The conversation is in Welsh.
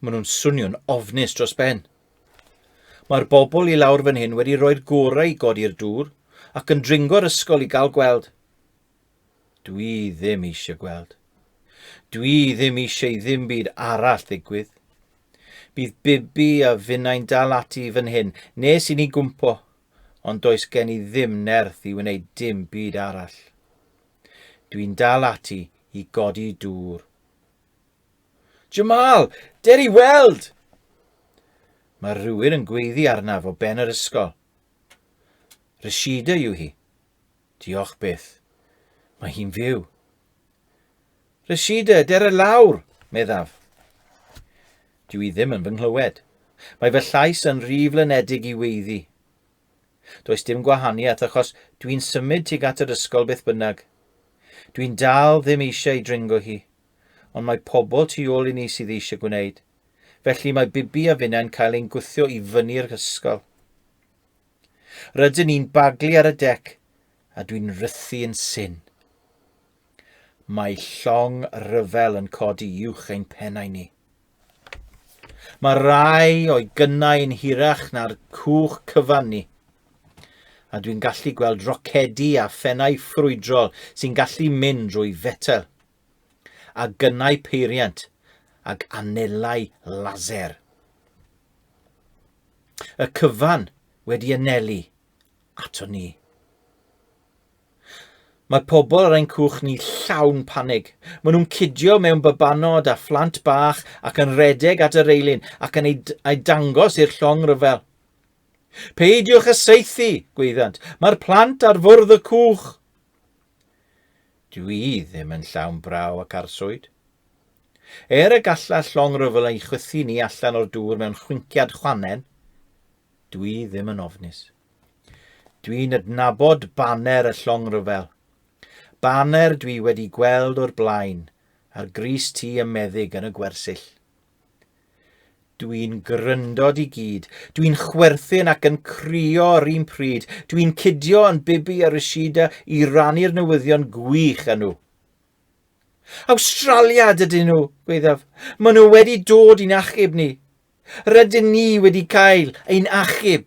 Maen nhw'n swnio'n ofnus dros ben. Mae'r bobl i lawr fan hyn wedi rhoi'r gorau i godi'r dŵr ac yn dringo'r ysgol i gael gweld. Dwi ddim eisiau gweld. Dwi ddim eisiau i ddim byd arall ddigwydd. Bydd Bibi a finnau'n dal ati fan hyn nes i ni gwmpo, ond does gen i ddim nerth i wneud dim byd arall. Dwi'n dal ati i godi dŵr. Jamal! Der i weld! Mae rhywun yn gweiddi arnaf o ben yr ysgol. Rashida yw hi. Diolch byth. Mae hi'n fyw. Rashida, der y lawr, meddaf. Dw i ddim yn fy nghlywed. Mae fy llais yn rhy flynedig i weiddi. Does dim gwahaniaeth achos dwi'n symud tuag at yr ysgol beth bynnag. Dwi'n dal ddim eisiau ei dringo hi, ond mae pobl tu ôl i ni sydd eisiau gwneud. Felly mae Bibi a finnau'n cael ein gwthio i fyny'r ysgol. Rydyn ni'n baglu ar y dec a dwi'n rythu yn syn. Mae llong ryfel yn codi uwch ein pennau ni. Mae rai o'i gynnau yn hirach na'r cwch cyfan ni, a dwi'n gallu gweld rocedi a phennau ffrwydrol sy'n gallu mynd drwy fetel, a gynnau peiriant ag anelau laser. Y cyfan wedi anelu ato ni. Mae pobl ar ein cwch ni llawn panig. Maen nhw'n cidio mewn babanod a phlant bach ac yn redeg at y reilyn ac yn ei dangos i'r llong ryfel. Peidiwch â saethu, gweiddiant. Mae'r plant ar fwrdd y cwch. Dw i ddim yn llawn braw ac arswyd. Er y gallai'r llong ryfel ei chwythu ni allan o'r dŵr mewn chwinciad chwannen, dw i ddim yn ofnus. Dwi'n adnabod baner y llong rhyfel. Baner dwi wedi gweld o'r blaen ar grys ti y meddyg yn y gwersyll. Dwi'n gryndod i gyd. Dwi'n chwerthin ac yn crio yr un pryd. Dwi'n cydio yn Bibi a Rashida i rannu'r newyddion gwych â nhw. Awstralia dydyn nhw, gweithaf. Maen nhw wedi dod i'n achub ni. Rydyn ni wedi cael ein achub.